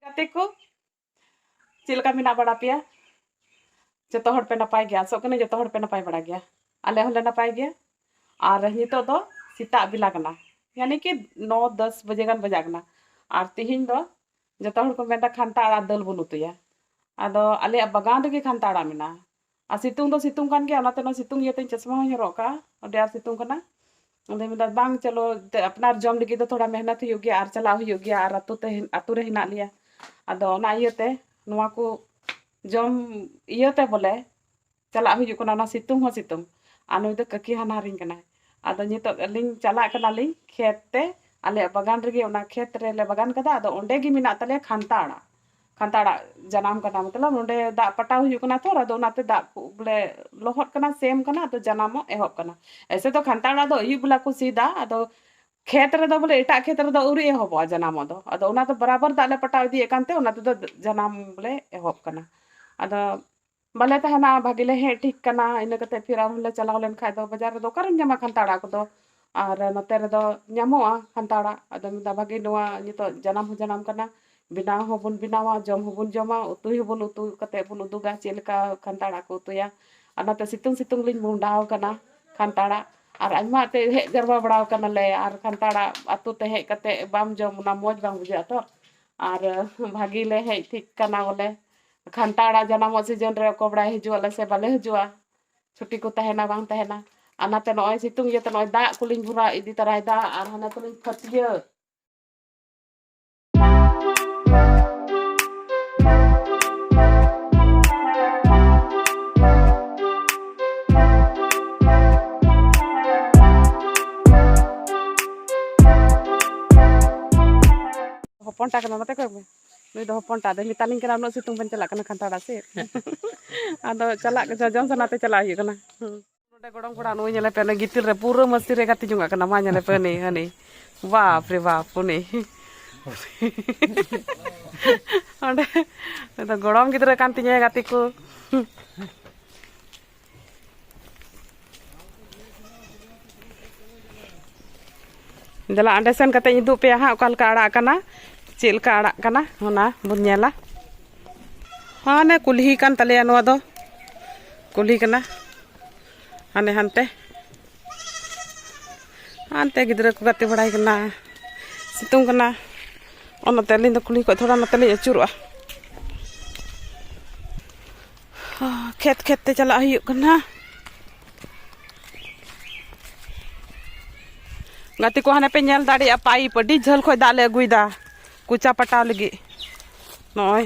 ᱜᱟᱛᱮ ᱠᱚ ᱪᱮᱫ ᱞᱮᱠᱟ ᱢᱮᱱᱟᱜ ᱵᱟᱲᱟ ᱯᱮᱭᱟ ᱡᱚᱛᱚ ᱦᱚᱲ ᱯᱮ ᱱᱟᱯᱟᱭ ᱜᱮᱭᱟ ᱟᱥᱚᱜ ᱠᱟᱹᱱᱟᱹᱧ ᱡᱚᱛᱚ ᱦᱚᱲ ᱯᱮ ᱱᱟᱯᱟᱭ ᱵᱟᱲᱟ ᱜᱮᱭᱟ ᱟᱞᱮ ᱦᱚᱸᱞᱮ ᱱᱟᱯᱟᱭ ᱜᱮᱭᱟ ᱟᱨ ᱱᱤᱛᱚᱜ ᱫᱚ ᱥᱮᱛᱟᱜ ᱵᱮᱞᱟ ᱠᱟᱱᱟ ᱭᱟᱱᱤ ᱠᱤ ᱱᱚ ᱫᱚᱥ ᱵᱟᱡᱮ ᱜᱟᱱ ᱵᱟᱡᱟᱜ ᱠᱟᱱᱟ ᱟᱨ ᱛᱤᱦᱤᱧ ᱫᱚ ᱡᱚᱛᱚ ᱦᱚᱲ ᱠᱚ ᱢᱮᱱᱫᱟ ᱠᱷᱟᱱᱛᱟ ᱟᱲᱟᱜ ᱫᱟᱹᱞ ᱵᱚᱱ ᱩᱛᱩᱭᱟ ᱟᱫᱚ ᱟᱞᱮᱭᱟᱜ ᱵᱟᱜᱟᱱ ᱨᱮᱜᱮ ᱠᱷᱟᱱᱛᱟ ᱟᱲᱟᱜ ᱢᱮᱱᱟᱜᱼᱟ ᱟᱨ ᱥᱤᱛᱩᱝ ᱫᱚ ᱥᱤᱛᱩᱝ ᱠᱟᱱ ᱜᱮᱭᱟ ᱚᱱᱟᱛᱮ ᱱᱚᱣᱟ ᱥᱤᱛᱩᱝ ᱤᱭᱟᱹᱛᱮ ᱤᱧ ᱪᱚᱥᱢᱟ ᱦᱚᱸᱧ ᱦᱚᱨᱚᱜ ᱠᱟᱜᱼᱟ ᱟᱹᱰᱤ ᱟᱸᱴ ᱥᱤᱛᱩᱝ ᱠᱟᱱᱟ ᱟᱫᱚᱧ ᱢᱮᱱᱫᱟ ᱵᱟᱝ ᱪᱚᱞᱚ ᱟᱯᱱᱟᱨ ᱡᱚᱢ ᱞᱟᱹᱜᱤᱫ ᱫᱚ ᱛᱷᱚᱲᱟ ᱢᱮᱦᱱᱚᱛ ᱦᱩᱭᱩᱜ ᱜᱮᱭᱟ ᱟᱨ ᱪᱟᱞᱟᱜ ᱦᱩᱭᱩᱜ ᱜᱮᱭᱟ ᱟᱨ ᱟᱛᱳ ᱛᱮ ᱟᱛᱳ ᱨᱮ ᱦᱮᱱᱟᱜ ᱞᱮᱭᱟ ᱟᱫᱚ ᱚᱱᱟ ᱤᱭᱟᱹᱛᱮ ᱱᱚᱣᱟ ᱠᱚ ᱡᱚᱢ ᱤᱭᱟᱹᱛᱮ ᱵᱚᱞᱮ ᱪᱟᱞᱟᱜ ᱦᱩᱭᱩᱜ ᱠᱟᱱᱟ ᱚᱱᱟ ᱥᱤᱛᱩᱝ ᱦᱚᱸ ᱥᱤᱛᱩᱝ ᱟᱨ ᱱᱩᱭ ᱫᱚ ᱠᱟᱹᱠᱤ ᱦᱟᱱᱦᱟᱨᱤᱧ ᱠᱟᱱᱟᱭ ᱟᱫᱚ ᱱᱤᱛᱚᱜ ᱟᱹᱞᱤᱧ ᱪᱟᱞᱟᱜ ᱠᱟᱱᱟᱞᱤᱧ ᱠᱷᱮᱛ ᱛᱮ ᱟᱞᱮᱭᱟᱜ ᱵᱟᱜᱟᱱ ᱨᱮᱜᱮ ᱚᱱᱟ ᱠᱷᱮᱛ ᱨᱮᱞᱮ ᱵᱟᱜᱟᱱ ᱠᱟᱫᱟ ᱟᱫᱚ ᱚᱸᱰᱮ ᱜᱮ ᱢᱮᱱᱟᱜ ᱛᱟᱞᱮᱭᱟ ᱠᱷᱟᱱᱛᱟ ᱟᱲᱟᱜ ᱠᱷᱟᱱᱛᱟᱲ ᱟᱲᱟᱜ ᱡᱟᱱᱟᱢ ᱠᱟᱱᱟ ᱢᱚᱛᱞᱚᱵ ᱱᱚᱸᱰᱮ ᱫᱟᱜ ᱯᱟᱴᱟᱣ ᱦᱩᱭᱩᱜ ᱠᱟᱱᱟ ᱛᱚ ᱟᱫᱚ ᱚᱱᱟᱛᱮ ᱫᱟᱜ ᱵᱚᱞᱮ ᱞᱚᱦᱚᱫ ᱠᱟᱱᱟ ᱥᱮᱢ ᱠᱟᱱᱟ ᱟᱫᱚ ᱡᱟᱱᱟᱢᱚᱜ ᱮᱦᱚᱵ ᱠᱟᱱᱟ ᱮᱭᱥᱮ ᱫᱚ ᱠᱷᱟᱱᱛᱟᱲ ᱟᱲᱟᱜ ᱫᱚ ᱟᱹᱭᱩᱵ ᱵᱮᱞᱟ ᱠᱚ ᱥᱤᱫᱟ ᱟᱫᱚ ᱠᱷᱮᱛ ᱨᱮᱫᱚ ᱵᱚᱞᱮ ᱮᱴᱟᱜ ᱠᱷᱮᱛ ᱨᱮᱫᱚ ᱟᱹᱣᱨᱤ ᱮᱦᱚᱵᱚᱜᱼᱟ ᱡᱟᱱᱟᱢᱚᱜ ᱫᱚ ᱟᱫᱚ ᱚᱱᱟ ᱫᱚ ᱵᱟᱨᱟᱵᱟᱨ ᱫᱟᱜ ᱞᱮ ᱯᱟᱴᱟᱣ ᱤᱫᱤᱭᱮᱫ ᱠᱟᱱᱛᱮ ᱚᱱᱟ ᱛᱮᱫᱚ ᱡᱟᱱᱟᱢ ᱵᱚᱞᱮ ᱮᱦᱚᱵ ᱠᱟᱱᱟ ᱟᱫᱚ ᱵᱟᱞᱮ ᱛᱟᱦᱮᱱᱟ ᱵᱷᱟᱜᱮ ᱞᱮ ᱦᱮᱡ ᱴᱷᱤᱠ ᱠᱟᱱᱟ ᱤᱱᱟᱹ ᱠᱟᱛᱮ ᱯᱷᱤᱨ ᱟᱨᱦᱚᱸ ᱞᱮ ᱪᱟᱞᱟᱣ ᱞᱮᱱ ᱠᱷᱟᱡ ᱫᱚ ᱵᱟᱡᱟᱨ ᱨᱮᱫᱚ ᱚᱠᱟᱨᱮᱢ ᱧᱟᱢᱟ ᱠᱷᱟᱱᱛᱟ ᱟᱲᱟᱜ ᱠᱚᱫᱚ ᱟᱨ ᱱᱚᱛᱮ ᱨᱮᱫᱚ ᱧᱟᱢᱚᱜᱼᱟ ᱠᱷᱟᱱᱛᱟ ᱟᱲᱟᱜ ᱟᱫᱚ ᱢᱮᱱᱫᱟ ᱵᱷᱟᱜᱮ ᱱᱚᱣᱟ ᱱᱤᱛᱚᱜ ᱡᱟᱱᱟᱢ ᱦᱚᱸ ᱡᱟᱱᱟᱢ ᱠᱟᱱᱟ ᱵᱮᱱᱟᱣ ᱦᱚᱸᱵᱚᱱ ᱵᱮᱱᱟᱣᱟ ᱡᱚᱢ ᱦᱚᱸᱵᱚᱱ ᱡᱚᱢᱟ ᱩᱛᱩᱭ ᱦᱚᱸᱵᱚᱱ ᱩᱛᱩ ᱠᱟᱛᱮ ᱵᱚᱱ ᱩᱫᱩᱜᱟ ᱪᱮᱫ ᱞᱮᱠᱟ ᱠᱷᱟᱱᱛᱟ ᱟᱲᱟᱜ ᱠᱚ ᱩᱛᱩᱭᱟ ᱟᱨ ᱱᱚᱛᱮ ᱥᱤᱛᱩᱝ ᱥᱤᱛᱩᱝ ᱞᱤᱧ ᱢᱚᱦᱰᱟᱣ ᱠᱟᱱᱟ ᱠᱷᱟᱱᱛᱟ ᱟᱲᱟᱜ ᱟᱨ ᱟᱭᱢᱟ ᱛᱮ ᱦᱮᱡ ᱡᱟᱨᱣᱟ ᱵᱟᱲᱟᱣ ᱠᱟᱱᱟᱞᱮ ᱟᱨ ᱠᱷᱟᱱᱛᱟ ᱟᱲᱟᱜ ᱟᱛᱳ ᱛᱮ ᱦᱮᱡ ᱠᱟᱛᱮ ᱵᱟᱢ ᱡᱚᱢ ᱚᱱᱟ ᱢᱚᱡᱽ ᱵᱟᱝ ᱵᱩᱡᱷᱟᱹᱜᱼᱟ ᱛᱚ ᱟᱨ ᱵᱷᱟᱜᱮ ᱞᱮ ᱦᱮᱡ ᱴᱷᱤᱠ ᱠᱟᱱᱟ ᱵᱚᱞᱮ ᱠᱷᱟᱱᱴᱟᱲ ᱟᱜ ᱡᱟᱱᱟᱢᱚᱜ ᱥᱤᱡᱚᱱ ᱨᱮ ᱚᱠᱚᱭ ᱵᱟᱲᱟᱭ ᱦᱤᱡᱩᱜ ᱟᱞᱮ ᱥᱮ ᱵᱟᱞᱮ ᱦᱤᱡᱩᱜᱼᱟ ᱪᱷᱩᱴᱤ ᱠᱚ ᱛᱟᱦᱮᱱᱟ ᱵᱟᱝ ᱛᱟᱦᱮᱱᱟ ᱟᱨ ᱱᱟᱛᱮ ᱱᱚᱜᱼᱚᱭ ᱥᱤᱛᱩᱝ ᱤᱭᱟᱹᱛᱮ ᱱᱚᱜᱼᱚᱭ ᱫᱟᱜ ᱠᱚᱞᱤᱧ ᱵᱷᱚᱨᱟᱣ ᱤᱫᱤ ᱛᱟᱨᱟᱭᱮᱫᱟ ᱟᱨ ᱦᱟᱱᱮ ᱛᱟᱞᱤᱧ ᱯᱷᱟᱹᱛᱭᱟᱹᱜ ᱦᱚᱯᱚᱱᱴᱟ ᱠᱟᱱᱟ ᱱᱚᱛᱮ ᱠᱷᱚᱡ ᱱᱩᱭ ᱫᱚ ᱦᱚᱯᱚᱱᱴᱟ ᱫᱚ ᱢᱮᱛᱟᱞᱤᱧ ᱠᱟᱱᱟ ᱩᱱᱟᱹᱜ ᱥᱤᱛᱩᱝ ᱵᱟᱹᱧ ᱪᱟᱞᱟᱜ ᱠᱟᱱᱟ ᱠᱷᱟᱱᱛᱟᱲᱟ ᱥᱮᱫ ᱟᱫᱚ ᱪᱟᱞᱟᱜ ᱡᱚᱡᱚᱢ ᱥᱟᱱᱟᱛᱮ ᱪᱟᱞᱟᱜ ᱦᱩᱭᱩᱜ ᱠᱟᱱᱟ ᱱᱚᱰᱮ ᱜᱚᱲᱚᱢ ᱠᱚᱲᱟ ᱱᱩᱭ ᱧᱮᱞᱮ ᱯᱮ ᱜᱤᱛᱤᱞ ᱨᱮ ᱯᱩᱨᱟᱹ ᱢᱟᱹᱥᱤ ᱨᱮ ᱜᱟᱛᱮ ᱡᱚᱝᱟᱜ ᱠᱟᱱᱟ ᱢᱟ ᱧᱮᱞᱮ ᱯᱮ ᱦᱟᱹᱱᱤ ᱦᱟᱹᱱᱤ ᱵᱟᱯ ᱨᱮ ᱵᱟᱯ ᱩᱱᱤ ᱚᱸᱰᱮ ᱜᱚᱲᱚᱢ ᱜᱤᱫᱽᱨᱟᱹ ᱠᱟᱱ ᱛᱤᱧᱟᱹ ᱜᱟᱛᱮ ᱠᱚ ᱫᱮᱞᱟ ᱚᱸᱰᱮ ᱥᱮᱱ ᱠᱟᱛᱮ ᱩᱫᱩᱜ ᱯᱮᱭᱟ ᱦᱟᱸᱜ ᱚᱠᱟ ᱞᱮᱠᱟ ᱟᱲᱟᱜ ᱠᱟᱱᱟ ᱪᱮᱫ ᱞᱮᱠᱟ ᱟᱲᱟᱜ ᱠᱟᱱᱟ ᱚᱱᱟ ᱵᱚᱱ ᱧᱮᱞᱟ ᱦᱟᱱᱮ ᱠᱩᱞᱦᱤ ᱠᱟᱱ ᱛᱟᱞᱮᱭᱟ ᱱᱚᱣᱟ ᱫᱚ ᱠᱩᱞᱦᱤ ᱠᱟᱱᱟ ᱦᱟᱱᱮ ᱦᱟᱱᱛᱮ ᱦᱟᱱᱛᱮ ᱜᱤᱫᱽᱨᱟᱹ ᱠᱚ ᱜᱟᱛᱮ ᱵᱟᱲᱟᱭ ᱠᱟᱱᱟ ᱥᱤᱛᱩᱝ ᱠᱟᱱᱟ ᱚᱱᱟᱛᱮ ᱟᱹᱞᱤᱧ ᱫᱚ ᱠᱩᱞᱦᱤ ᱠᱷᱚᱡ ᱛᱷᱚᱲᱟ ᱱᱚᱛᱮ ᱞᱤᱧ ᱟᱹᱪᱩᱨᱚᱜᱼᱟ ᱠᱷᱮᱛ ᱠᱷᱮᱛ ᱛᱮ ᱪᱟᱞᱟᱜ ᱦᱩᱭᱩᱜ ᱠᱟᱱᱟ ᱜᱟᱛᱮ ᱠᱚ ᱦᱟᱱᱮ ᱯᱮ ᱧᱮᱞ ᱫᱟᱲᱮᱭᱟᱜᱼᱟ ᱯᱟᱭᱤᱯ ᱟᱹᱰᱤ ᱡᱷᱟᱹᱞ ᱠᱷᱚᱡ ᱫᱟᱜ ᱞᱮ ᱟᱹᱜᱩᱭᱮᱫᱟ ᱠᱚᱪᱟ ᱯᱟᱴᱟᱣ ᱞᱟᱹᱜᱤᱫ ᱱᱚᱜᱼᱚᱭ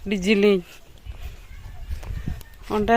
ᱟᱹᱰᱤ ᱡᱤᱞᱤᱧ ᱚᱸᱰᱮ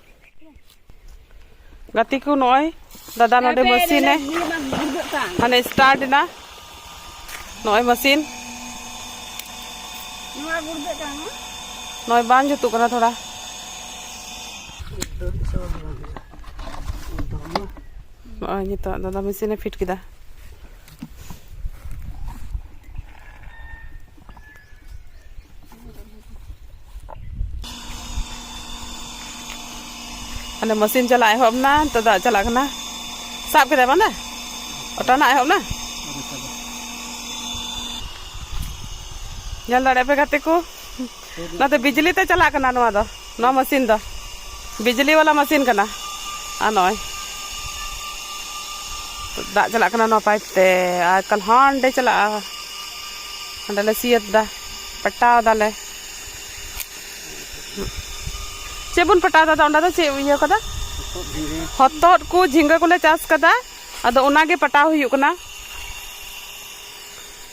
ᱜᱟᱛᱮ ᱠᱚ ᱱᱚᱜᱼᱚᱭ ᱫᱟᱫᱟ ᱱᱚᱰᱮ ᱢᱮᱥᱤᱱ ᱮ ᱢᱟᱱᱮ ᱥᱴᱟᱨᱴ ᱮᱱᱟ ᱱᱚᱜᱼᱚᱭ ᱢᱮᱥᱤᱱ ᱱᱚᱜᱼᱚᱭ ᱵᱟᱝ ᱡᱩᱛᱩᱜ ᱠᱟᱱᱟ ᱛᱷᱚᱲᱟ ᱱᱚᱜᱼᱚᱭ ᱱᱤᱛᱚᱜ ᱫᱟᱫᱟ ᱢᱮᱥᱤᱱᱮ ᱯᱷᱤᱴ ᱠᱮᱫᱟ ᱟᱞᱮ ᱢᱟᱥᱤᱱ ᱪᱟᱞᱟᱜ ᱮᱦᱚᱵ ᱮᱱᱟ ᱱᱤᱛᱚᱜ ᱫᱟᱜ ᱪᱟᱞᱟᱜ ᱠᱟᱱᱟ ᱥᱟᱵ ᱠᱮᱫᱟᱭ ᱵᱟᱝ ᱫᱟ ᱚᱴᱟᱱᱟᱜ ᱮᱦᱚᱵ ᱮᱱᱟ ᱧᱮᱞ ᱫᱟᱲᱮᱭᱟᱜ ᱯᱮ ᱜᱟᱛᱮ ᱠᱚ ᱱᱚᱛᱮ ᱵᱤᱡᱽᱞᱤ ᱛᱮ ᱪᱟᱞᱟᱜ ᱠᱟᱱᱟ ᱱᱚᱣᱟ ᱫᱚ ᱱᱚᱣᱟ ᱢᱮᱥᱤᱱ ᱫᱚ ᱵᱤᱡᱽᱞᱤ ᱵᱟᱞᱟ ᱢᱮᱥᱤᱱ ᱠᱟᱱᱟ ᱟᱨ ᱱᱚᱜᱼᱚᱭ ᱫᱟᱜ ᱪᱟᱞᱟᱜ ᱠᱟᱱᱟ ᱱᱚᱣᱟ ᱯᱟᱭᱤᱯ ᱛᱮ ᱟᱨ ᱮᱠᱟᱞ ᱦᱟᱸᱰᱮ ᱪᱟᱞᱟᱜᱼᱟ ᱦᱟᱸᱰᱮ ᱞᱮ ᱥᱤᱭᱟᱹᱛ ᱫᱟ ᱯᱟᱴᱟᱣ ᱫᱟᱞᱮ ᱪᱮᱫ ᱵᱚᱱ ᱯᱟᱴᱟᱣ ᱫᱟ ᱚᱸᱰᱮ ᱫᱚ ᱪᱮᱫ ᱤᱭᱟᱹ ᱠᱟᱫᱟ ᱦᱚᱛᱚᱫ ᱠᱚ ᱡᱷᱤᱸᱜᱟᱹ ᱠᱚᱞᱮ ᱪᱟᱥ ᱠᱟᱫᱟ ᱟᱫᱚ ᱚᱱᱟᱜᱮ ᱯᱟᱴᱟᱣ ᱦᱩᱭᱩᱜ ᱠᱟᱱᱟ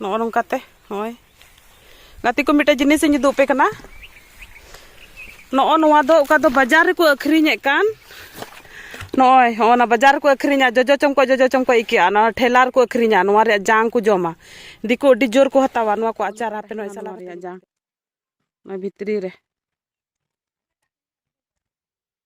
ᱱᱚᱜᱼᱚ ᱱᱚᱝᱠᱟᱛᱮ ᱱᱚᱜᱼᱚᱭ ᱜᱟᱛᱮ ᱠᱚ ᱢᱤᱫᱴᱮᱡ ᱡᱤᱱᱤᱥ ᱤᱧ ᱩᱫᱩᱜ ᱟᱯᱮ ᱠᱟᱱᱟ ᱱᱚᱜᱼᱚ ᱱᱚᱣᱟ ᱫᱚ ᱚᱠᱟ ᱫᱚ ᱵᱟᱡᱟᱨ ᱨᱮᱠᱚ ᱟᱹᱠᱷᱨᱤᱧᱮᱫ ᱠᱟᱱ ᱱᱚᱜᱼᱚᱭ ᱦᱚᱸᱜᱼᱚ ᱱᱟ ᱵᱟᱡᱟᱨ ᱨᱮᱠᱚ ᱟᱹᱠᱷᱨᱤᱧᱟ ᱡᱚᱡᱚ ᱪᱚᱢᱠᱚᱡ ᱡᱚᱡᱚ ᱪᱚᱢᱠᱚᱡ ᱟᱹᱭᱠᱟᱹᱜᱼᱟ ᱱᱚᱣᱟ ᱴᱷᱮᱞᱟ ᱨᱮᱠᱚ ᱟᱹᱠᱷᱨᱤᱧᱟ ᱱᱚᱣᱟ ᱨᱮᱭᱟᱜ ᱡᱟᱝ ᱠᱚ ᱡᱚᱢᱟ ᱫᱤᱠᱩ ᱟᱹᱰᱤ ᱡᱳᱨ ᱠᱚ ᱦᱟᱛᱟᱣᱟ ᱱᱚᱣᱟ ᱠᱚ ᱟᱪᱟᱨ ᱟᱯᱮ ᱱᱚᱜᱼᱚᱭ ᱥᱟᱞᱟ ᱨᱮᱭᱟᱜ ᱡᱟᱝ ᱱᱚᱣᱟ ᱵᱷᱤᱛᱨᱤ ᱨᱮ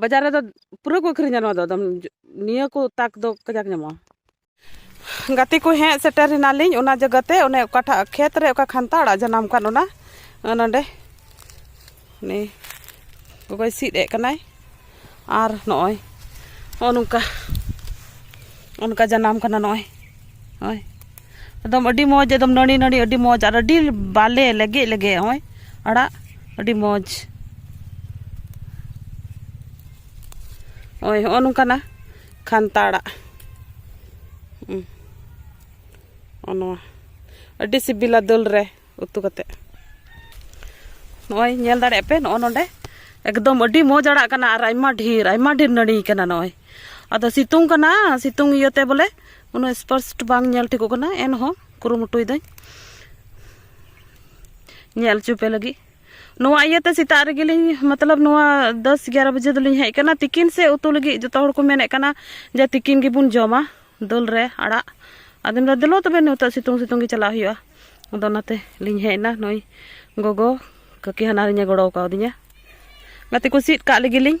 ᱵᱟᱡᱟᱨ ᱨᱮᱫᱚ ᱯᱩᱨᱟᱹ ᱠᱚ ᱟᱹᱠᱷᱨᱤᱧᱟ ᱱᱚᱣᱟ ᱫᱚ ᱮᱠᱫᱚᱢ ᱱᱤᱭᱟᱹ ᱠᱚ ᱛᱟᱠ ᱫᱚ ᱠᱟᱡᱟᱠ ᱧᱟᱢᱚᱜᱼᱟ ᱜᱟᱛᱮ ᱠᱚ ᱦᱮᱡ ᱥᱮᱴᱮᱨ ᱮᱱᱟᱞᱤᱧ ᱚᱱᱟ ᱡᱟᱭᱜᱟᱛᱮ ᱚᱱᱮ ᱚᱠᱟᱴᱟᱜ ᱠᱷᱮᱛ ᱨᱮ ᱚᱠᱟ ᱠᱷᱟᱱᱛᱟ ᱟᱲᱟᱜ ᱡᱟᱱᱟᱢ ᱠᱟᱱ ᱚᱱᱟ ᱱᱚᱰᱮ ᱩᱱᱤ ᱜᱚᱜᱚᱭ ᱥᱤᱫ ᱮᱫ ᱠᱟᱱᱟᱭ ᱟᱨ ᱱᱚᱜᱼᱚᱭ ᱱᱚᱜᱼᱚ ᱱᱚᱝᱠᱟ ᱚᱱᱠᱟ ᱡᱟᱱᱟᱢ ᱠᱟᱱᱟ ᱱᱚᱜᱼᱚᱭ ᱱᱚᱜᱼᱚᱭ ᱮᱠᱫᱚᱢ ᱟᱹᱰᱤ ᱢᱚᱡᱽ ᱮᱠᱫᱚᱢ ᱱᱟᱹᱲᱤ ᱱᱟᱹᱲᱤ ᱟᱹᱰᱤ ᱢᱚᱡᱽ ᱟᱨ ᱟᱹᱰᱤ ᱵᱟᱞᱮ ᱞᱮᱜᱮ ᱞᱮᱜᱮ ᱦᱚᱸᱜᱼᱚᱭ ᱟᱲᱟᱜ ᱟᱹᱰᱤ ᱢᱚᱡᱽ ᱦᱚᱸᱜᱼᱚᱭ ᱦᱚᱸᱜᱼᱚ ᱱᱚᱝᱠᱟᱱᱟ ᱠᱷᱟᱱᱛᱟ ᱟᱲᱟᱜ ᱦᱚᱸᱜᱼᱚ ᱱᱚᱣᱟ ᱟᱹᱰᱤ ᱥᱤᱵᱤᱞᱟ ᱫᱟᱹᱞ ᱨᱮ ᱩᱛᱩ ᱠᱟᱛᱮᱫ ᱱᱚᱜᱼᱚᱭ ᱧᱮᱞ ᱫᱟᱲᱮᱭᱟᱜ ᱯᱮ ᱱᱚᱜᱼᱚ ᱱᱚᱰᱮ ᱮᱠᱫᱚᱢ ᱟᱹᱰᱤ ᱢᱚᱡᱽ ᱟᱲᱟᱜ ᱠᱟᱱᱟ ᱟᱨ ᱟᱭᱢᱟ ᱰᱷᱮᱨ ᱟᱭᱢᱟ ᱰᱷᱮᱨ ᱱᱟᱹᱲᱤ ᱠᱟᱱᱟ ᱱᱚᱜᱼᱚᱭ ᱟᱫᱚ ᱥᱤᱛᱩᱝ ᱠᱟᱱᱟ ᱥᱤᱛᱩᱝ ᱤᱭᱟᱹᱛᱮ ᱵᱚᱞᱮ ᱩᱱᱟᱹᱜ ᱥᱯᱚᱥᱴ ᱵᱟᱝ ᱧᱮᱞ ᱴᱷᱤᱠᱚᱜ ᱠᱟᱱᱟ ᱮᱱᱦᱚᱸ ᱠᱩᱨᱩᱢᱩᱴᱩᱭᱮᱫᱟᱹᱧ ᱧᱮᱞ ᱦᱚᱪᱚ ᱯᱮ ᱞᱟᱹᱜᱤᱫ ᱱᱚᱣᱟ ᱤᱭᱟᱹᱛᱮ ᱥᱮᱛᱟᱜ ᱨᱮᱜᱮᱞᱤᱧ ᱢᱚᱛᱞᱚᱵ ᱱᱚᱣᱟ ᱫᱚᱥ ᱮᱜᱟᱨᱚ ᱵᱟᱡᱮ ᱫᱚᱞᱤᱧ ᱦᱮᱡ ᱟᱠᱟᱱᱟ ᱛᱤᱠᱤᱱ ᱥᱮ ᱩᱛᱩ ᱞᱟᱹᱜᱤᱫ ᱡᱚᱛᱚ ᱦᱚᱲ ᱠᱚ ᱢᱮᱱᱮᱫ ᱠᱟᱱᱟ ᱡᱮ ᱛᱤᱠᱤᱱ ᱜᱮᱵᱚᱱ ᱡᱚᱢᱟ ᱫᱟᱹᱞ ᱨᱮ ᱟᱲᱟᱜ ᱟᱫᱚ ᱢᱮᱱᱫᱟ ᱫᱮᱞᱳ ᱛᱚᱵᱮ ᱱᱤᱛᱚᱜ ᱥᱤᱛᱩᱝ ᱥᱤᱛᱩᱝ ᱜᱮ ᱪᱟᱞᱟᱜ ᱦᱩᱭᱩᱜᱼᱟ ᱟᱫᱚ ᱚᱱᱟᱛᱮ ᱞᱤᱧ ᱦᱮᱡ ᱮᱱᱟ ᱱᱩᱭ ᱜᱚᱜᱚ ᱠᱟᱹᱠᱤ ᱦᱟᱱᱟᱨᱤᱧᱮ ᱜᱚᱲᱚ ᱠᱟᱣᱫᱤᱧᱟ ᱜᱟᱛᱮ ᱠᱚ ᱥᱤᱫ ᱠᱟᱜ ᱞᱟᱹᱜᱤᱫ ᱞᱤᱧ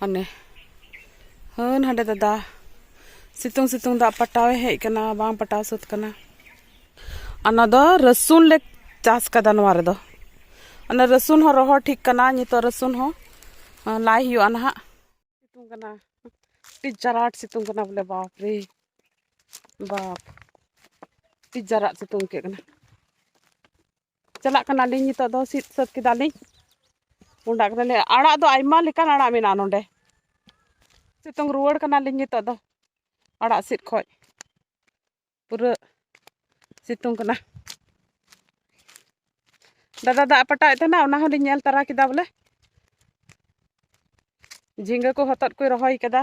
ᱦᱟᱱᱮ ᱦᱟᱹᱱ ᱦᱟᱸᱰᱮ ᱫᱟᱫᱟ ᱥᱤᱛᱩᱝ ᱥᱤᱛᱩᱝ ᱫᱟᱜ ᱯᱟᱴᱟᱣᱮ ᱦᱮᱡ ᱠᱟᱱᱟ ᱵᱟᱝ ᱯᱟᱴᱟᱣ ᱥᱟᱹᱛ ᱠᱟᱱᱟ ᱚᱱᱟ ᱫᱚ ᱨᱟᱹᱥᱩᱱ ᱞᱮ ᱪᱟᱥ ᱠᱟᱫᱟ ᱱᱚᱣᱟ ᱨᱮᱫᱚ ᱚᱱᱟ ᱨᱟᱹᱥᱩᱱ ᱦᱚᱸ ᱨᱚᱦᱚᱲ ᱴᱷᱤᱠ ᱠᱟᱱᱟ ᱱᱤᱛᱚᱜ ᱨᱟᱹᱥᱩᱱ ᱦᱚᱸ ᱞᱟᱭ ᱦᱩᱭᱩᱜᱼᱟ ᱱᱟᱦᱟᱜ ᱥᱤᱛᱩᱝ ᱠᱟᱱᱟ ᱟᱹᱰᱤ ᱡᱟᱨᱟᱴ ᱥᱤᱛᱩᱝ ᱠᱟᱱᱟ ᱵᱚᱞᱮ ᱵᱟᱯ ᱨᱮ ᱵᱟᱯ ᱟᱹᱰᱤ ᱡᱟᱨᱟᱜ ᱥᱤᱛᱩᱝ ᱟᱹᱭᱠᱟᱹᱜ ᱠᱟᱱᱟ ᱪᱟᱞᱟᱜ ᱠᱟᱱᱟᱞᱤᱧ ᱱᱤᱛᱚᱜ ᱫᱚ ᱥᱤᱫ ᱥᱟᱹᱛ ᱠᱮᱫᱟᱞᱤᱧ ᱚᱸᱰᱟᱜ ᱠᱟᱱᱟᱞᱮ ᱟᱲᱟᱜ ᱫᱚ ᱟᱭᱢᱟ ᱞᱮᱠᱟᱱ ᱟᱲᱟᱜ ᱢᱮᱱᱟᱜᱼᱟ ᱱᱚᱰᱮ ᱥᱤᱛᱩᱝ ᱨᱩᱣᱟᱹᱲ ᱠᱟᱱᱟᱞᱤᱧ ᱱᱤᱛᱚᱜ ᱫᱚ ᱟᱲᱟᱜ ᱥᱤᱫ ᱠᱷᱚᱡ ᱯᱩᱨᱟᱹ ᱥᱤᱛᱩᱝ ᱠᱟᱱᱟ ᱫᱟᱫᱟ ᱫᱟᱜ ᱯᱟᱴᱟᱣᱮᱫ ᱛᱟᱦᱮᱱᱟ ᱚᱱᱟ ᱦᱚᱸᱞᱤᱧ ᱧᱮᱞ ᱛᱟᱨᱟ ᱠᱮᱫᱟ ᱵᱚᱞᱮ ᱡᱷᱤᱸᱜᱟᱹ ᱠᱚ ᱦᱚᱛᱚᱫ ᱠᱚᱭ ᱨᱚᱦᱚᱭ ᱠᱟᱫᱟ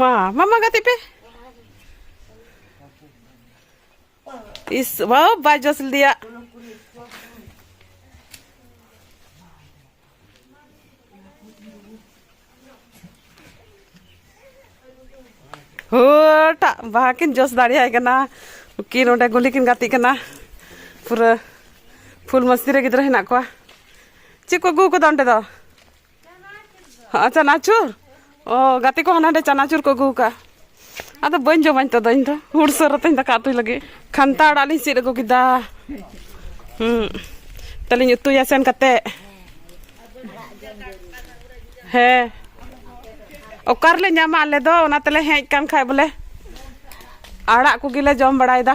ᱢᱟ ᱢᱟᱢᱟ ᱜᱟᱛᱮ ᱯᱮ ᱤᱥ ᱵᱟᱵ ᱵᱟᱭ ᱡᱚᱥ ᱞᱮᱫᱮᱭᱟ ᱦᱳᱴᱟᱜ ᱵᱟᱦᱟ ᱠᱤᱱ ᱡᱚᱥ ᱫᱟᱲᱮᱭᱟᱭ ᱠᱟᱱᱟ ᱩᱠᱤᱱ ᱚᱸᱰᱮ ᱜᱩᱞᱤ ᱠᱤᱱ ᱜᱟᱛᱮᱜ ᱠᱟᱱᱟ ᱯᱩᱨᱟᱹ ᱯᱷᱩᱞ ᱢᱟᱹᱥᱛᱤ ᱨᱮ ᱜᱤᱫᱽᱨᱟᱹ ᱦᱮᱱᱟᱜ ᱠᱚᱣᱟ ᱪᱮᱫ ᱠᱚ ᱟᱹᱜᱩ ᱠᱟᱫᱟ ᱚᱸᱰᱮ ᱫᱚ ᱦᱚᱸ ᱪᱟᱱᱟᱪᱩᱨ ᱚ ᱜᱟᱛᱮ ᱠᱚ ᱦᱟᱱᱟ ᱱᱟᱰᱮ ᱪᱟᱱᱟᱪᱩᱨ ᱠᱚ ᱟᱹᱜᱩ ᱟᱠᱟᱫᱼᱟ ᱟᱫᱚ ᱵᱟᱹᱧ ᱡᱚᱢᱟᱹᱧ ᱛᱮᱫᱚ ᱤᱧ ᱫᱚ ᱦᱩᱲ ᱥᱟᱹᱨ ᱟᱛᱮᱧ ᱫᱟᱠᱟ ᱩᱛᱩᱭ ᱞᱟᱹᱜᱤᱫ ᱠᱷᱟᱱᱛᱟ ᱟᱲᱟᱜ ᱞᱤᱧ ᱥᱤᱫ ᱟᱹᱜᱩ ᱠᱮᱫᱟ ᱦᱩᱸ ᱛᱟᱦᱞᱮᱧ ᱩᱛᱩᱭᱟ ᱥᱮᱱ ᱠᱟᱛᱮ ᱦᱮᱸ ᱚᱠᱟ ᱨᱮᱞᱮ ᱧᱟᱢᱟ ᱟᱞᱮ ᱫᱚ ᱚᱱᱟ ᱛᱮᱞᱮ ᱦᱮᱡ ᱠᱟᱱ ᱠᱷᱟᱡ ᱵᱚᱞᱮ ᱟᱲᱟᱜ ᱠᱚᱜᱮᱞᱮ ᱡᱚᱢ ᱵᱟᱲᱟᱭᱮᱫᱟ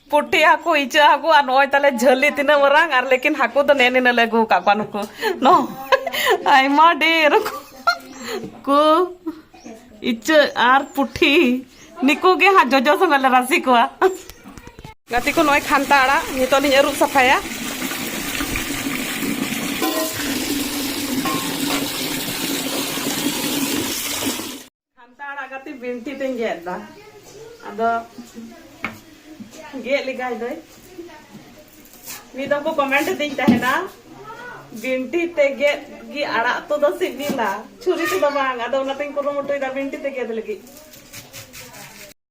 ᱯᱩᱴᱷᱤ ᱦᱟᱹᱠᱩ ᱤᱪᱟᱹᱜ ᱦᱟᱹᱠᱩ ᱟᱨ ᱱᱚᱜᱼᱚᱭ ᱛᱟᱞᱮ ᱡᱷᱟᱹᱞᱤ ᱛᱤᱱᱟᱹᱜ ᱢᱟᱨᱟᱝ ᱟᱨ ᱞᱮᱠᱤᱱ ᱦᱟᱹᱠᱩ ᱫᱚ ᱱᱮ ᱱᱤᱱᱟᱹᱜ ᱞᱮ ᱟᱹᱜᱩ ᱟᱠᱟᱫ ᱠᱚᱣᱟ ᱱᱩᱠᱩ ᱱᱚ ᱟᱭᱢᱟ ᱰᱷᱮᱨ ᱠᱚ ᱤᱪᱟᱹᱜ ᱟᱨ ᱯᱩᱴᱷᱤ ᱱᱤᱠᱩ ᱜᱮ ᱦᱟᱸᱜ ᱡᱚᱡᱚ ᱥᱚᱸᱜᱮ ᱞᱮ ᱨᱟᱥᱮ ᱠᱚᱣᱟ ᱜᱟᱛᱮ ᱠᱚ ᱱᱚᱜᱼᱚᱭ ᱠᱷᱟᱱᱛᱟ ᱟᱲᱟᱜ ᱱᱤᱛᱚᱜ ᱞᱤᱧ ᱟᱹᱨᱩᱵ ᱥᱟᱯᱷᱟᱭᱟ ᱠᱷᱟᱱᱛᱟ ᱟᱲᱟᱜ ᱠᱟᱹᱴᱤᱡ ᱵᱤᱱᱴᱤ ᱛᱮᱧ ᱜᱮᱫ ᱮᱫᱟ ᱟᱫᱚ ᱜᱮᱫ ᱞᱮᱜᱟᱭ ᱫᱟᱹᱧ ᱢᱤᱫ ᱫᱚ ᱠᱚ ᱠᱚᱢᱮᱱᱴ ᱫᱤᱧ ᱛᱟᱦᱮᱱᱟ ᱵᱤᱱᱴᱤ ᱛᱮ ᱜᱮᱫ ᱜᱮ ᱟᱲᱟᱜ ᱩᱛᱩ ᱫᱚ ᱥᱤᱵᱤᱞᱟ ᱪᱷᱩᱨᱤ ᱛᱮᱫᱚ ᱵᱟᱝ ᱟᱫᱚ ᱚᱱᱟᱛᱮᱧ ᱠᱩᱨᱩᱢᱩᱴᱩᱭᱮᱫᱟ ᱵᱤᱱᱴᱤ ᱛᱮ ᱜᱮᱫ ᱞᱟᱹᱜᱤᱫ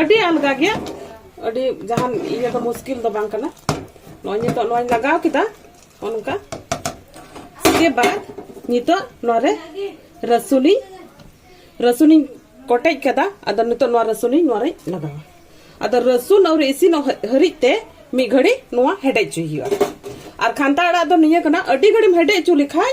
ᱟᱹᱰᱤ ᱟᱞᱜᱟ ᱜᱮᱭᱟ ᱟᱹᱰᱤ ᱡᱟᱦᱟᱱ ᱤᱭᱟᱹ ᱫᱚ ᱢᱩᱥᱠᱤᱞ ᱫᱚ ᱵᱟᱝ ᱠᱟᱱᱟ ᱱᱚᱜᱼᱚᱭ ᱱᱤᱛᱚᱜ ᱱᱚᱣᱟᱧ ᱞᱟᱜᱟᱣ ᱠᱮᱫᱟ ᱚᱱᱠᱟ ᱥᱮ ᱵᱟᱫ ᱱᱤᱛᱚᱜ ᱱᱚᱣᱟᱨᱮ ᱨᱟᱹᱥᱩᱱᱤᱧ ᱨᱟᱹᱥᱩᱱᱤᱧ ᱠᱚᱴᱮᱡ ᱠᱟᱫᱟ ᱟᱫᱚ ᱱᱤᱛᱚᱜ ᱱᱚᱣᱟ ᱨᱟᱹᱥᱩᱱᱤᱧ ᱱᱚᱣᱟᱨᱮᱧ ᱞᱟᱜᱟᱣᱟ ᱟᱫᱚ ᱨᱟᱹᱥᱩᱱ ᱟᱹᱣᱨᱤ ᱤᱥᱤᱱᱚᱜ ᱦᱟᱹᱨᱤᱡ ᱛᱮ ᱢᱤᱫ ᱜᱷᱟᱹᱲᱤ ᱱᱚᱣᱟ ᱦᱮᱰᱮᱡ ᱦᱚᱪᱚᱭ ᱦᱩᱭᱩᱜᱼᱟ ᱟᱨ ᱠᱷᱟᱱᱛᱟ ᱟᱲᱟᱜ ᱫᱚ ᱱᱤᱭᱟᱹ ᱠᱟᱱᱟ ᱟᱹᱰᱤ ᱜᱷᱟᱹᱲᱤᱢ ᱦᱮᱰᱮᱡ ᱦᱚᱪᱚ ᱞᱮᱠᱷᱟᱡ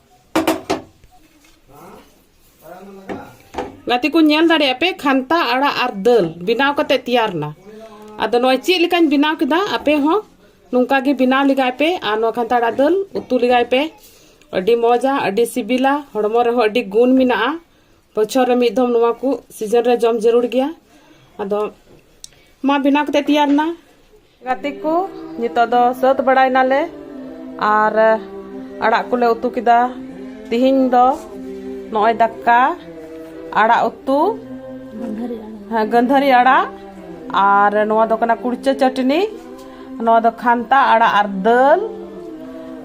ᱜᱟᱛᱮ ᱠᱚ ᱧᱮᱞ ᱫᱟᱲᱮᱭᱟᱜ ᱯᱮ ᱠᱷᱟᱱᱛᱟ ᱟᱲᱟᱜ ᱟᱨ ᱫᱟᱹᱞ ᱵᱮᱱᱟᱣ ᱠᱟᱛᱮ ᱛᱮᱭᱟᱨ ᱱᱟ ᱟᱫᱚ ᱱᱚᱜᱼᱚᱭ ᱪᱮᱫ ᱞᱮᱠᱟᱧ ᱵᱮᱱᱟᱣ ᱠᱮᱫᱟ ᱟᱯᱮ ᱦᱚᱸ ᱱᱚᱝᱠᱟ ᱜᱮ ᱵᱮᱱᱟᱣ ᱞᱮᱜᱟᱭ ᱯᱮ ᱟᱨ ᱱᱚᱣᱟ ᱠᱷᱟᱱᱛᱟ ᱟᱲᱟᱜ ᱫᱟᱹᱞ ᱩᱛᱩ ᱞᱮᱜᱟᱭ ᱯᱮ ᱟᱹᱰᱤ ᱢᱚᱡᱟ ᱟᱹᱰᱤ ᱥᱤᱵᱤᱞᱟ ᱦᱚᱲᱢᱚ ᱨᱮᱦᱚᱸ ᱟᱹᱰᱤ ᱜᱩᱱ ᱢᱮᱱᱟᱜᱼᱟ ᱵᱚᱪᱷᱚᱨ ᱨᱮ ᱢᱤᱫ ᱫᱷᱚᱢ ᱱᱚᱣᱟ ᱠᱚ ᱥᱤᱡᱚᱱ ᱨᱮ ᱡᱚᱢ ᱡᱟᱹᱨᱩᱲ ᱜᱮᱭᱟ ᱟᱫᱚ ᱢᱟ ᱵᱮᱱᱟᱣ ᱠᱟᱛᱮ ᱛᱮᱭᱟᱨ ᱱᱟ ᱜᱟᱛᱮ ᱠᱚ ᱱᱤᱛᱚᱜ ᱫᱚ ᱥᱟᱹᱛ ᱵᱟᱲᱟᱭᱱᱟᱞᱮ ᱟᱨ ᱟᱲᱟᱜ ᱠᱚᱞᱮ ᱩᱛᱩ ᱠᱮᱫᱟ ᱛᱤᱦᱤᱧ ᱫᱚ ᱱᱚᱜᱼᱚᱭ ᱫᱟᱠᱟ ᱟᱲᱟᱜ ᱩᱛᱩ ᱦᱮᱸ ᱜᱟᱹᱱᱫᱷᱟᱹᱨᱤ ᱟᱲᱟᱜ ᱟᱨ ᱱᱚᱣᱟ ᱫᱚ ᱠᱟᱱᱟ ᱠᱩᱲᱪᱟᱹ ᱪᱟᱹᱴᱱᱤ ᱱᱚᱣᱟ ᱫᱚ ᱠᱷᱟᱱᱛᱟ ᱟᱲᱟᱜ ᱟᱨ ᱫᱟᱹᱞ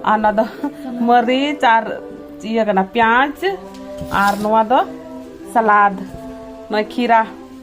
ᱟᱨ ᱱᱚᱣᱟ ᱫᱚ ᱢᱟᱹᱨᱤᱪ ᱟᱨ ᱤᱭᱟᱹ ᱠᱟᱱᱟ ᱯᱮᱸᱭᱟᱡᱽ ᱟᱨ ᱱᱚᱣᱟ ᱫᱚ ᱥᱟᱞᱟᱫ ᱱᱚᱜᱼᱚᱭ ᱠᱷᱤᱨᱟ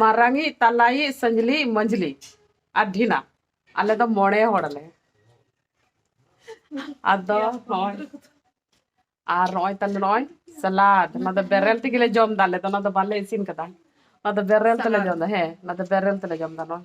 ᱢᱟᱨᱟᱝᱤᱡ ᱛᱟᱞᱟᱭᱤᱡ ᱥᱟᱹᱧᱡᱞᱤᱡ ᱢᱟᱹᱡᱽᱞᱤ ᱟᱨ ᱰᱷᱤᱱᱟ ᱟᱞᱮ ᱫᱚ ᱢᱚᱬᱮ ᱦᱚᱲ ᱟᱞᱮ ᱟᱫᱚ ᱱᱚᱜᱼᱚᱭ ᱟᱨ ᱱᱚᱜᱼᱚᱭ ᱛᱟᱞᱮ ᱱᱚᱜᱼᱚᱭ ᱥᱟᱞᱟᱫ ᱚᱱᱟ ᱫᱚ ᱵᱮᱨᱮᱞ ᱛᱮᱜᱮ ᱞᱮ ᱡᱚᱢ ᱫᱟ ᱟᱞᱮ ᱫᱚ ᱚᱱᱟ ᱫᱚ ᱵᱟᱞᱮ ᱤᱥᱤᱱ ᱠᱟᱫᱟ ᱚᱱᱟ ᱫᱚ ᱵᱮᱨᱮᱞ ᱛᱮᱞᱮ ᱡᱚᱢ ᱫᱟ ᱦᱮᱸ ᱚᱱᱟ ᱫᱚ ᱵᱮᱨᱮᱞ ᱛᱮᱞᱮ ᱡᱚᱢ ᱫᱟ ᱱᱚᱜᱼᱚᱭ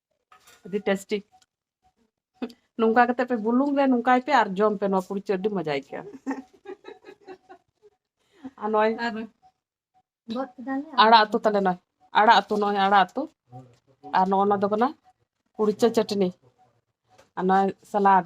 ᱟᱹᱰᱤ ᱴᱮᱥᱴᱤ ᱱᱚᱝᱠᱟ ᱠᱟᱛᱮ ᱯᱮ ᱵᱩᱞᱩᱝ ᱨᱮ ᱱᱚᱝᱠᱟᱭ ᱯᱮ ᱟᱨ ᱡᱚᱢ ᱯᱮ ᱱᱚᱣᱟ ᱯᱩᱲᱤ ᱪᱟᱹᱴ ᱟᱹᱰᱤ ᱢᱚᱡᱟ ᱟᱹᱭᱠᱟᱹᱜᱼᱟ ᱟᱨ ᱱᱚᱜᱼᱚᱭ ᱟᱲᱟᱜ ᱩᱛᱩ ᱛᱟᱞᱮ ᱱᱚᱜᱼᱚᱭ ᱟᱲᱟᱜ ᱩᱛᱩ ᱱᱚᱜᱼᱚᱭ ᱟᱲᱟᱜ ᱩᱛᱩ ᱟᱨ ᱱᱚᱜᱼᱚ ᱱᱚᱣᱟ ᱫᱚ ᱠᱟᱱᱟ ᱯᱩᱲᱤᱪᱟᱹ ᱪᱟᱹᱴᱱᱤ ᱟᱨ ᱱᱚᱜᱼᱚᱭ ᱥᱟᱞᱟᱰ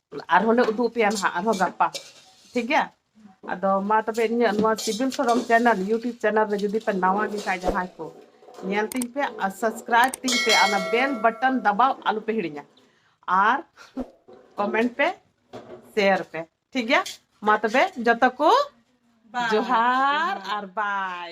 ᱟᱨᱦᱚᱸ ᱞᱮ ᱩᱫᱩᱜ ᱯᱮᱭᱟ ᱱᱟᱦᱟᱜ ᱟᱨᱦᱚᱸ ᱜᱟᱯᱟ ᱴᱷᱤᱠ ᱜᱮᱭᱟ ᱟᱫᱚ ᱢᱟ ᱛᱚᱵᱮ ᱤᱧᱟᱹᱜ ᱱᱚᱣᱟ ᱥᱤᱵᱤᱞ ᱥᱚᱨᱚᱢ ᱪᱮᱱᱮᱞ ᱤᱭᱩᱴᱩᱵᱽ ᱪᱮᱱᱮᱞ ᱨᱮ ᱡᱩᱫᱤ ᱯᱮ ᱱᱟᱣᱟ ᱜᱮ ᱠᱷᱟᱡ ᱡᱟᱦᱟᱸᱭ ᱠᱚ ᱧᱮᱞ ᱛᱤᱧ ᱯᱮ ᱟᱨ ᱥᱟᱵᱥᱠᱨᱟᱭᱤᱵ ᱛᱤᱧ ᱯᱮ ᱚᱱᱟ ᱵᱮᱞ ᱵᱟᱴᱚᱱ ᱫᱟᱵᱟᱣ ᱟᱞᱚ ᱯᱮ ᱦᱤᱲᱤᱧᱟ ᱟᱨ ᱠᱚᱢᱮᱱᱴ ᱯᱮ ᱥᱮᱭᱟᱨ ᱯᱮ ᱴᱷᱤᱠ ᱜᱮᱭᱟ ᱢᱟ ᱛᱚᱵᱮ ᱡᱚᱛᱚ ᱠᱚ ᱡᱚᱦᱟᱨ ᱟᱨ ᱵᱟᱭ